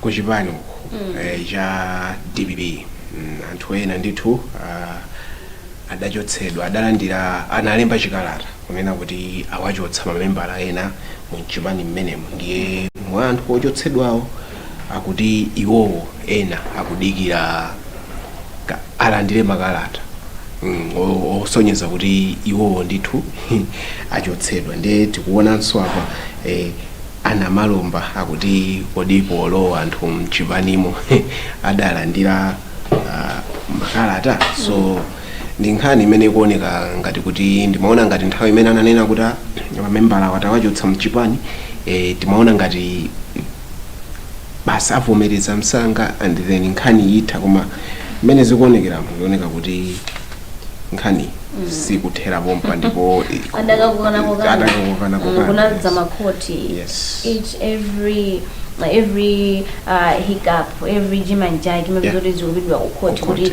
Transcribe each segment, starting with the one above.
kuchipani uku eh, cha dpp mm, anthu ena ndithu ah, adachotsedwa adalandira analemba chikalata kunena kuti awachotsa mamembala ena mu mchipani mmenemo ndiye mwa anthu ochotsedwawo akuti iwowo ena akudikira ka- alandire makalata mm, osonyeza kuti iwowo ndithu achotsedwa nde tikuonanso apa eh, a Namalomba akuti kodi polowa anthu mchipanimo adalandira ah, makalata so ndi nkhani imene ikuoneka ngati kuti ndimaona ngati nthawi imene ananena kuti ah, mamembalawa tawachotsa mchipani eh, timaona ngati basi avomereza msanga and then nkhani itha koma mmene zikuonekeramu zioneka kuti nkhani sikuthera pompa ndipo i- adakakukana kokana adakakukana Mm, kokana, kunadza yes. makhoti Yes. each every every uh, hiccup every chinachake Yeah. mapezoti zikupita kukhoti Kukhoti. kuti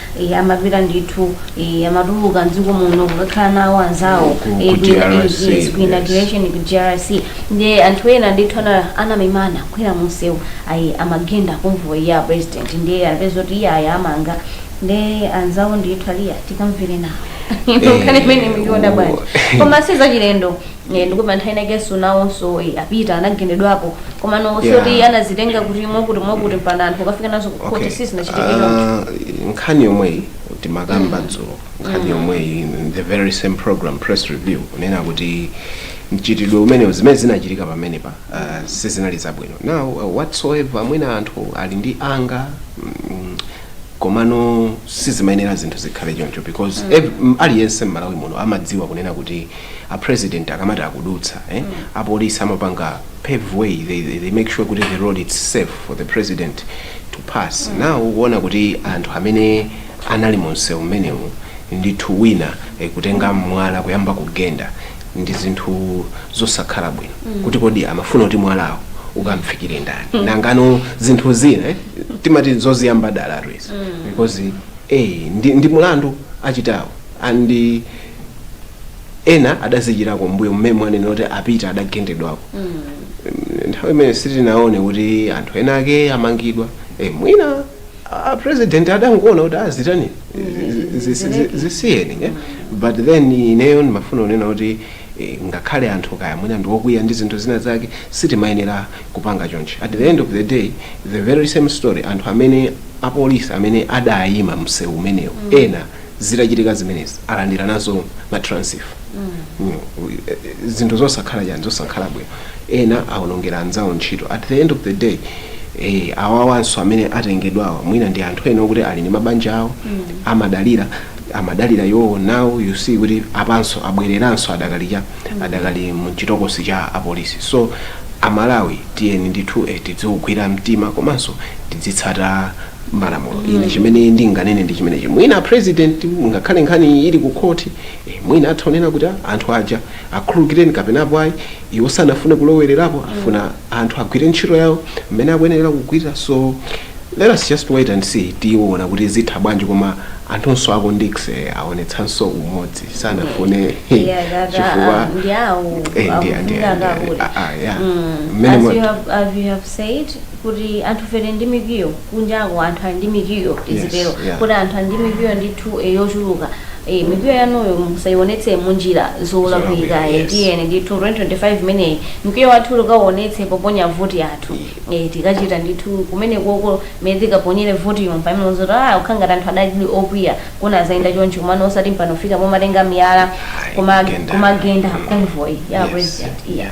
Eh, amapita ndithu eh, amatuluka mdziko muno kukakhala nawo anzawo Ku- ku- eh, ku kwina- eh, DRC, yes, ku yes. inauguration ku DRC ndiye anthu ena ndithu ana- anamemana kukwera munsewu ayi amagenda convoy ya president ndiye anapeza kuti iye ayi amanga ndiye anzawo ndithu aliya tikamvere nawo Eh, nkhani imene muyiona bwanji oh. koma si zachilendo Eh, ndipo pa nthawi inakenso nawonso eh, a Peter anagendedwapo komano osati Yeah. yeah. anazitenga kuti mwakuti mwakuti mpana anthu kukafika nazo ku khoti sizinachitike choncho Ah, nkhani yomweyi timakamba dzulo nkhani yomweyi in the very same program press review kunena kuti mchitidwe umenewu zimene zinachitika pamenepa ah, sizinali zabwino now uh, whatsoever mwina anthu ali ndi anger mm, komano sizimayenera zinthu zikhale choncho because ev- m- aliyense mmalawi muno amadziwa kunena kuti a president akamati akudutsa eh, a police amapanga pave way they, they- they make sure kuti the road is safe for the president to pass now ukuona kuti anthu amene anali mu msewu umenewu ndithu wina eh, kutenga mwala kuyamba kugenda ndi zinthu zosakhala bwino kuti kodi amafuna kuti mwalawo ukamfikire ndani nangano zinthu zina eh, timati zoziyamba dala always because eh, ndi, ndi mulandu achitawo and ena adazichitako mbuyo mmene mwanenera kuti a Peter adagendedwako nthawi imene sitinaone kuti anthu ena ake amangidwa e, mwina a president adangoona kuti ah zitayeni zisiyeni eh? but then ineyo ndimafuna kunena kuti eh, ngakhale anthu kaya mwina ndiwokwiya ndi zinthu zina zake sitimayenera kupanga chonchi at the end of the day the very same story anthu amene apolisi amene adayima msewu umenewo ena zitachitika zimenezi alandira nazo ma transfer Mm, eh, zinthu zosakhala chani zosakhala bwino ena awonongera anzawo ntchito at the end of the day eh, awawanso amene atengedwawa mwina ndi anthu ena okuti ali ndi mabanja awo amadalira amadalira iwowo nawo you see kuti apanso abwereranso adakali cha- adakali mu chitokosi cha apolisi so amalawi tiyeni ndithu eh, tidziugwira mtima komanso tidzitsata malamulo ine chimene ndinganene ndi chimenechi mwina a president ngakhale nkhani iyi ili ku court eh, mwina atha kunena kuti "Ah, anthu aja akhululukireni kapena apo ayi iwo sanafune kulowererapo afuna anthu agwire ntchito yawo mmene akuyenera kugwira so let us just wait and see tiona kuti zitha bwanji koma anthunso aku Ndix aonetsanso umodzi sanafune Yeah, that- chifukwa ah, ndi awo, eh, ndi- ndi- akuvutika ndi- kakuti. ah, ah, yeah. Mm. Mmene As mo- you have, as you have said, kuti anthufe ndi mikwiyo kunjako anthu ali ndi mikwiyo tizitero Yes, yeah. kuti anthu ali ndi mikwiyo ndithu eh, yochuluka Eh, mikwiyo yanuyo musayionetse munjira zolakwika Zolakwika, eh, yes. tiyeni ndithu 2025 imeneyi mkwiyo wathu tikauonetse poponya voti yathu eh, tikachita ndithu kumene koko mene tikaponyere voti yompa imenezo ta kukhala ngati anthu adali okwiya kuna azayenda chonchi kumano osati mpano fika pomatenga miyala Ayi, kuma- kugenda, kumagenda convoy ya Yes, president yeah. yeah.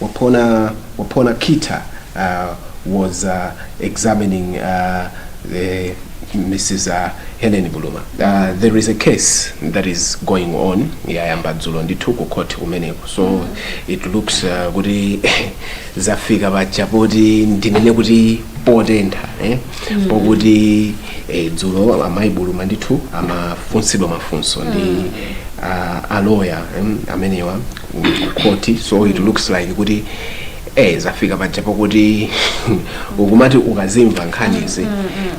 Wapona Wapona Kita was examining the Mrs Helen Buluma there is a case that is going on yayamba dzulo ndithu ku court kumeneko so it looks uh, kuti zafika paja poti ndinene kuti potentha eh? mm. pokuti eh, dzulo amayi buluma ndithu amafunsidwa mafunso ndi uh, aloya um, amenewa court so it looks like kuti eh zafika paja pakuti ukumati ukazimva nkhanizi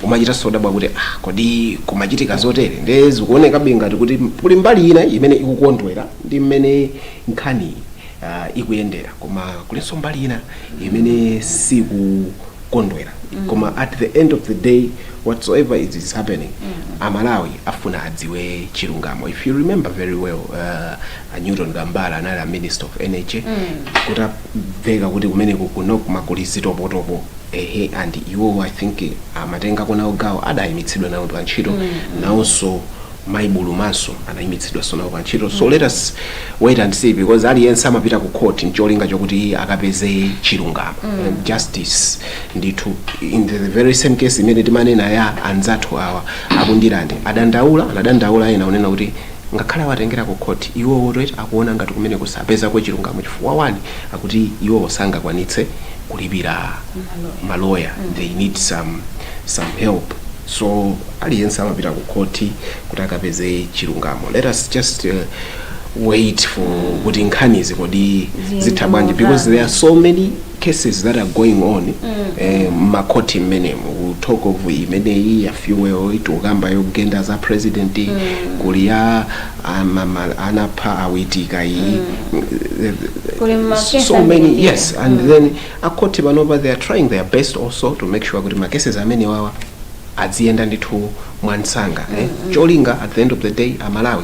umachita nso dabwa kuti ah kodi kumachitika zotere nde zikuoneka bingati kuti kuli mbali ina imene ikukondwera ndi mmene nkhani uh, ikuyendera koma kulinso mbali ina imene sikukondwera koma at the end of the day whatsoever it is happening amalawi afuna adziwe chilungamo if you remember very well uh, a newton kambala anali a minister of energy kutabveka kuti kumeneko kuno kunali zitopotopo ehe and iwo i think amatengako nawo gawo adayimitsidwa nawo pa ntchito nawonso mayi bulumanso anayimitsidwanso nawo pa ntchito so let us wait and see because aliyense amapita ku court ncholinga chokuti akapeze chilungamo And justice ndithu in the very same case imene timanena ya anzathu awa aku Ndirande adandaula anadandaula ena unena kuti Ngakhale awatengera ku court iwowotu eti akuona ngati kumeneko sapezako chilungamo chifukwa one kuti iwowo sangakwanitse kulipira ma lawyer they need some some help so aliyense amapita ku court kuti akapeze chilungamo let us just wait for kuti nkhanizi kodi zitha bwanji because there are so many cases that are going on eh, mmakhoti mmenemo we talk of imeneyi ya fuel itukamba yogenda za president kuli ya anapha awitika iyi Kuli ma case so many ambiri. yes and then akhoti panopa they are trying their best also to make sure kuti ma cases amenewawa adziyenda ndithu mwamsanga eh? cholinga at the end of the day amalawi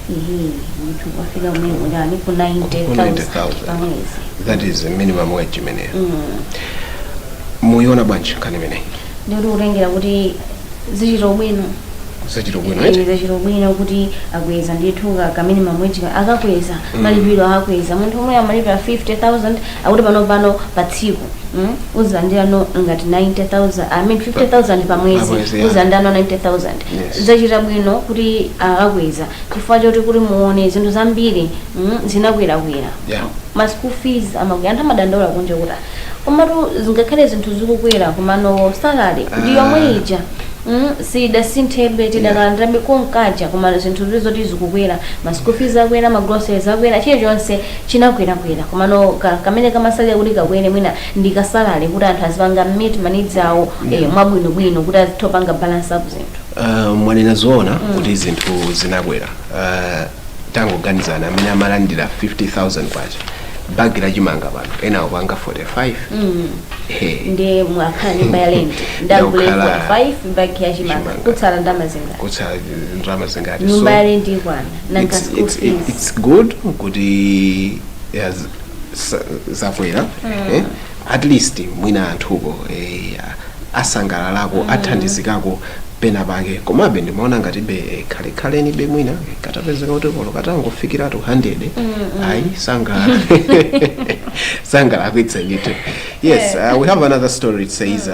Ehe, munthu wafika kumene kuti ali ku 90,000 90,000. pa mwezi. that is minimum wage imeneyo muyiona bwanji nkhani imeneyi Nditi kutengera kuti zachita bwino. zachita bwino eti? zachita bwino kuti akweza ndithu ka- ka minimum wage ka- akakweza malipiro akakweza munthu omwe amalipira 50000 akuti pano pano pa tsiku mm, uzilandirano ngati 90000 i mean 50000 pa mwezi Pamwezi, yeah. uzilandirano 90000 Yes. zachita bwino kuti akakweza chifukwa choti kuti muone zinthu zambiri mm, zinakwerakwera Yeah. ma school fees amakwera anthu amadandaula kunja kuti komatu zingakhale zinthu zikukwera komano salary ndi Ah. yomwe ija mm, sidasinthebe tidakalandirabe konkaja komano zinthu zili zoti zikukwera ma school fees akwera ma groceries akwera chilichonse chinakwerakwera komano ka- kamene kamatsalira kuti kakwere mwina ndi ka salary kuti anthu azipanga meet ma needs awo eh, mwabwinobwino kuti azitha kupanga balance up zinthu Uh, mwanena zoona kuti zinthu zinakwera uh, tangoganizana amene amalandira 50000 kwacha bagi la chimanga pano ena akupanga 45 mm. Ehe. ndi mwakhala nyumba ya lenti ndagule Ndakhala 45 bagi ya chimanga chimanga. kutsala ndalama zingati kutsala ndalama zingati nyumba ya lenti ikwana nanga it's, school it's, fees it's good kuti yes, sa- zakwera eh, at least mwina anthuko eh, asangalalako athandizikako pena pake komabe ndimaona ngatibe eh, khalekhalenibe mwina eh, katapezeka kuti kolowa katangofikiratu 100 ayi sangala sangala akwitsa ndithu yes uh, we have another story it says uh,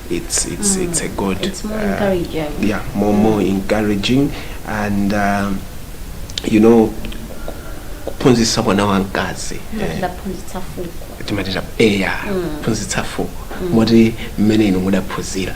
it's it's mm. it's a good it's more uh, encouraging yeah more mm. more encouraging and um, you know kuphunzitsa mwana wamkazi timati eya waphunzitsa fuko moti mmene inu mudaphunzirira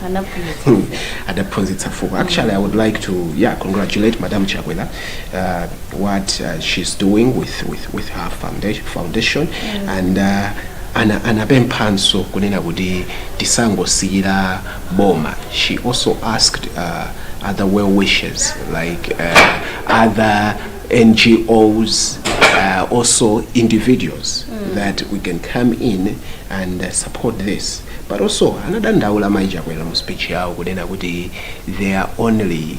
adaphunzitsa fuko actually i would like to yeah congratulate madam chakwera uh, what uh, she's doing with, with, with her foundation, foundation mm. and uh, ana, anapemphanso kunena kuti tisangosiyira boma she also asked uh, other well wishers like uh, other ngos uh, also individuals mm. that we can come in and uh, support this but also anadandaula maichakwera mu speech yawo kunena kuti they are only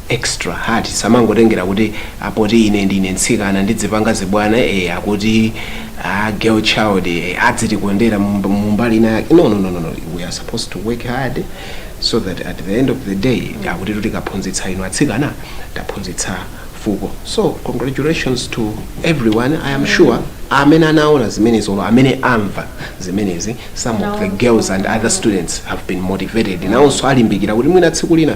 extra hard samangotengera kuti aa poti ine ndine ntsikana ndidzipanga zibwana ee akuti a girl child ee adzitikondera mumb- mumbali ina yake no, no, no, no, no. we are supposed to work hard so that at the end of the day akuti tutikaphunzitsa inu atsikana taphunzitsa fuko so congratulations to everyone i am sure amene anaona zimenezi olo amene amva zimenezi some of the girls and other students have been motivated nawonso alimbikira kuti mwina tsiku lina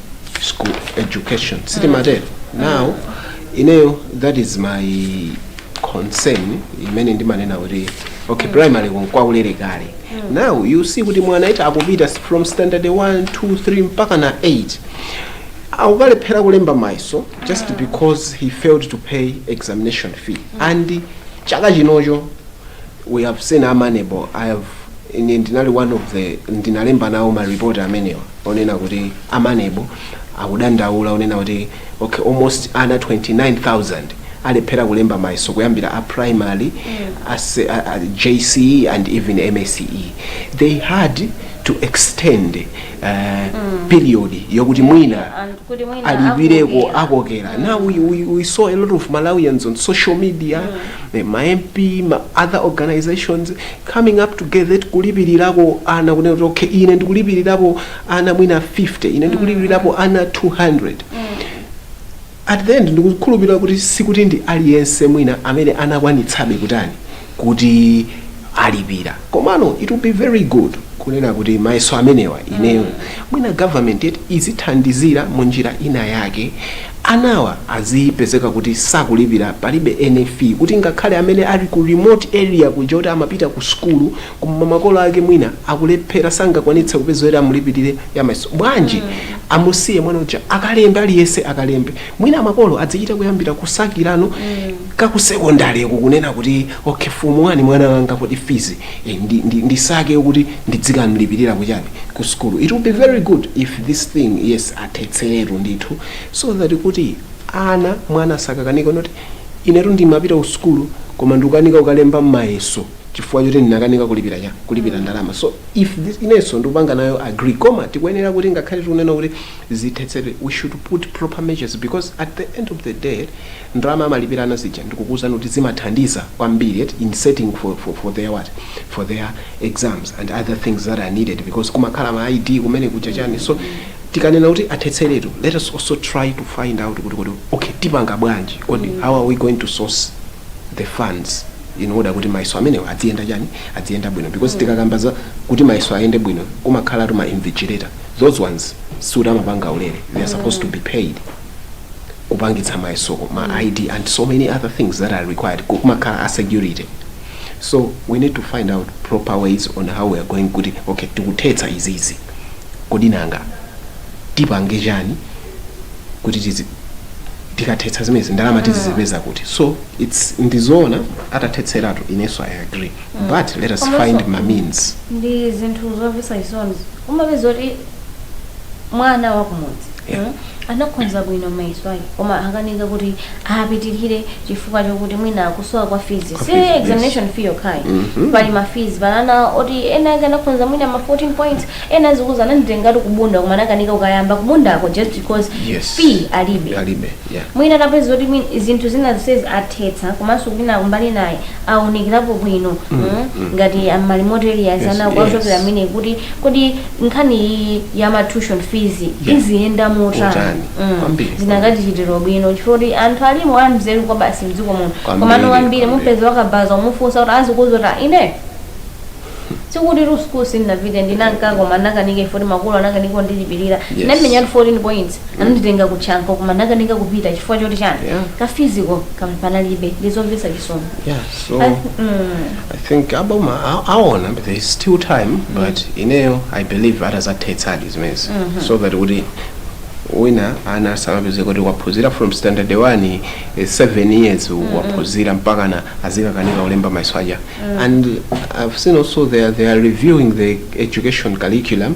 school education sitimatero now ineyo that is my concern imene ndimanena kuti okay primary nkwaulere kale now you see kuti mwana ita akupita from standard 1 2 3 mpaka na 8 akukalephera kulemba mayeso just because he failed to pay examination fee and chaka chinocho we have seen a MANEB I have ine ndinali one of the ndinalemba nawo maripoti amenewa onena kuti a MANEB akudandaula onena kuti okay almost ana 29000 alephera kulemba mayeso kuyambira a primary as, a, a, jce and even msce they had to extend uh, period yokuti mwina alipireko akokera now we, we, we saw a lot of malawians on social media mm. ma mp ma other organizations coming up together kulipilirako ana kunena kuti okay ine ndikulipilirapo ana mwina 50 ine ndikulipilirapo ana 200 at the end ndikukhulupirira kuti sikuti ndi aliyense mwina amene anakwanitsabe kutani kuti alipira komano it will be very good kunena kuti mayeso amenewa ineyo mwina government yet izithandizira mu njira ina yake Anawa azipezeka kuti sakulipira palibe any fee kuti ngakhale amene ali ku remote area kuja oti amapita ku sukulu koma makolo ake mwina akulephera sangakwanitse kupeza yoti amulipilire ya mayeso bwanji amusiye mwana uja akalembe aliyese akalembe mwina makolo adzichita kuyambira kusakira nokha ku secondary ko kunena kuti okay form 1 mwana wanga kodi fees eh, ndi, ndi, ndisake kuti ndidzikamlipilira kuchani ku sukulu it will be very good if this thing yes athetseretu ndithu so that kuti ana mwana asakakanike noti inetu ndimapita ku sukulu koma ndikukanika kukalemba mayeso chifukwa choti ndinakanika kulipira chani kulipira ndalama so if this inenso ndikupanga nayo agree koma tikuyenera kuti ngakhale tikunena kuti zithetsedwe we should put proper measures because at the end of the day ndalama amalipira ana zija ndikukuwuzani kuti zimathandiza kwambiri eti in setting for, for, for their what for their exams and other things that are needed because kumakhala ma id kumene kuja chani so tikanena kuti athetseretu let us also try to find out kuti kodi ok tipanga bwanji kodi mm. how are we going to source the funds in order kuti mayeso amenewo adziyenda chani adziyenda bwino because mm. tikakamba za kuti mayeso ayende bwino kumakhala tuma invigilator those ones siuti amapanga ulere they are supposed to be paid kupangitsa mayeso ma mm. id and so many other things that are required kumakhala a security so we need to find out proper ways on how we are going kuti okay tikuthetsa izizi Kodi nanga tipange chani kuti tizi tikathetsa zimenezi ndalama tizizipeza kuti so its ndizoona atathetseratu inenso i agree but let us Komanso find ma means. ndi zinthu zomvetsa chisoni umapeza kuti mwana wakumudzi Yeah. mm anakhonza bwino mayeso ake koma akanika kuti apitilire chifukwa chokuti mwina kusowa kwa fees Kwa si fees, yes. examination fee yokhayi pali ma fees pali ana oti enaake anakhonza mwina ma 14 points ena azikuuza ananditengatu ku Bunda koma anakanika kukayamba ku Bundako just because Yes. fee alibe alibe yeah. mwina tapeza kuti mwin- zinthu zina zonsezi athetsa komanso kwina kumbali inayi aunikirapo bwino mm, ngati amali motelias Yes, ana kuwachokera yes. amene kuti kodi nkhani iyi ya ma tuition fees Yeah. iziyenda motani Motani. Mm. Kwambiri. zinakatichitira ubwino chifukwa kuti anthu alimo amzeru kwabasi mdziko muno Kwambiri, komano kwambiri. wambiri mupeza wakabaza umufunsa kuti azikuuza kuti ine sikutitu school sinnapite ndinanka koma nnakanika ifoti makolo anakanika kundilipirira Yes. nnamenya 14 points ananditenga ku Chanco koma nnakanika kupita chifukwa choti chani Yeah. kafiziko panalibe ndizomvesa chisoni yeah so i think aboma a- aona but there is still time but ineyo i believe atazathetsadi zimenezi so that kuti wina ana asamapezeke kuti waphunzira from standard 1 eh, seven years waphunzira mpakana azikakanika kulemba mayeso aja and i've seen also they are, they are reviewing the education curriculum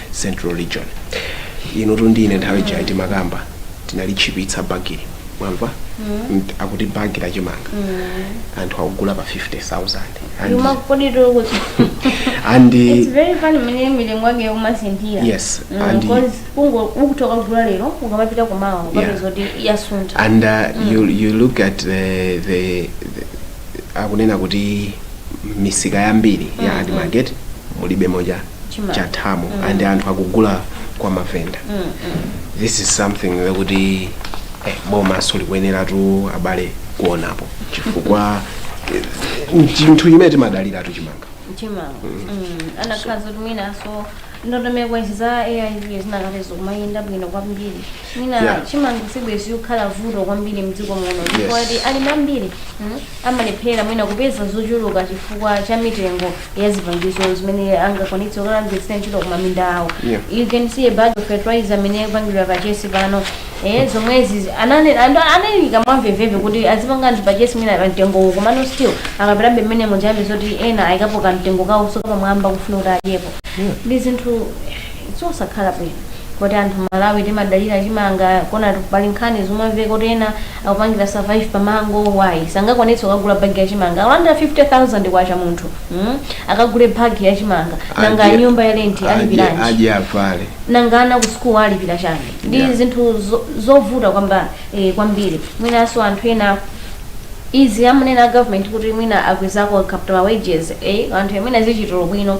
central region inutu ndi ine nthawi ijayi timakamba tinalitchipitsa bagili mwamva Mt- akuti bagi la chimanga anthu akugula pa 50000 And- Yuma kodi to kuti. and It's very funny mene mitengo yake ikumasinthira. Yes, Mm, and- cause kungo ukutoka kugula lero ukamapita kumawa ukapeza kuti yasuntha. and uh, you, you look at the, the, the akunena kuti misika yambiri ya ADMARC mulibe moja chathamo and anthu akugula kwa mavenda this is something chokuti eh, bomanso likuyeneratu abale kuonapo chifukwa eh, chinthu chimene timadaliratu chimanga mtima anakhala zoti mwinanso ndondomeko izi za AIP zinakhala zikumayenda bwino kwambiri mwina Yeah. chimanga sibwezi chikukhala vuto kwambiri mdziko muno Yes. ndipo alimi ambiri mm, amalephera mwina kupeza zochuluka chifukwa cha mitengo ya zipangizo zimene angakwanitse kukagwiritsa ntchito ku maminda awo Yeah. you can see a bag of fertilizer amene akupangidwa purchase pano eh, zomwezi anane- ando- analengeza mwamvemvemve kuti azipanga anthu purchase mwina pa mtengo uwu komano still akapitabe mmene mumva mbiri zoti ena ayikapo kamtengo kawo kokapamwamba kufuna kuti adyepo ndi zinthu zosakhala bwino poti anthu a Malawi timadalira chimanga koma pali nkhani zomamveka kuti ena akupangira survive pa mango why sangakwanitse kukagula bag ya chimanga akulandira 50000 kwacha munthu mm? akagule bag ya chimanga nanga Adye- nyumba ya lenti adye- alipiranji adye avale nanga ana ku school alipira chani ndi Yeah. zinthu zo- zovuta kwamb- eh, kwambiri mwinanso anthu ena izi amanena a government kuti mwina akwezako capital wages eh, anthu amene azichitako bwino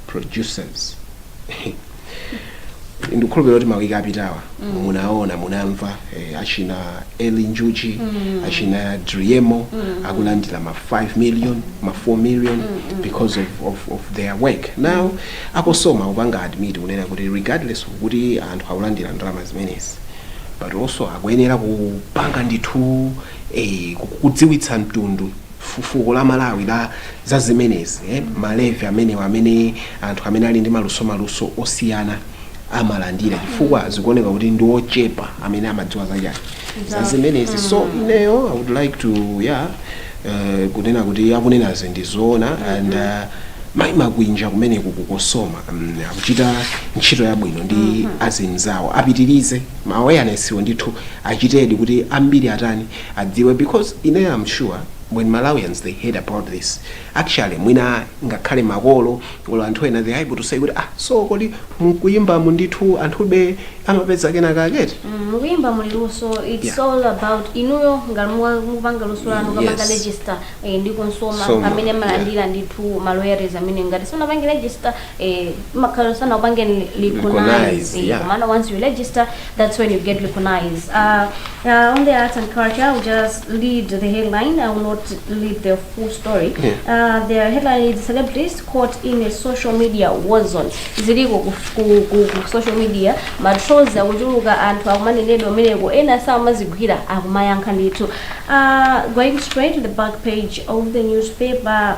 producers ndikukhulupirira kuti mawiki apitawa munaona munamva eh, achina eli njuchi achina driemo akulandira ma 5 million ma 4 million because of, of, of their work now a COSOMA kupanga admit kunena kuti regardless of kuti anthu akulandira ndalama zimenezi but also akuyenera kupanga ndithu eh, ku- kudziwitsa mtundu fuko la Malawi la za zimenezi eh, malevi amenewa amene anthu amene ali ndi maluso maluso osiyana amalandira chifukwa zikuoneka kuti ndi ochepa amene amadziwa zachani za zimenezi so ineyo i would like to yeah eh, kunena kuti akunenazi ndi zoona and uh, mayi makwinja kumene ku ku COSOMA mm, akuchita ntchito yabwino ndi azimzawo apitirize ma awareness wo ndithu achitedi kuti ambiri atani adziwe because ineyo am sure when Malawians they heard about this actually mwina ngakhale makolo or anthu ena they are able to say kuti ah so kodi mkuyimbamu ndithu anthube amapeza kenakake eti Mm, mukuyimba muli luso it's Yeah. all about inuyo ngati muwa- mukupanga luso lanu mukapange Yes. register eh, ndi COSOMA Soma, amene amalandira ndithu ma royalties amene ngati simunapange register eh, makalo sana upange ni Recognize, recognize yeah. maana once you register that's when you get recognized uh, uh, on the arts and culture I'll just lead the headline I will not lead the full story Yeah. uh, the headline is celebrities caught in a social media war zone ziliko ku, ku, ku, ku social media matrolls akuchuluka anthu akumanenedwa ameneko ena samazigwira akumayankha ndithu uh, going straight to the back page of the newspaper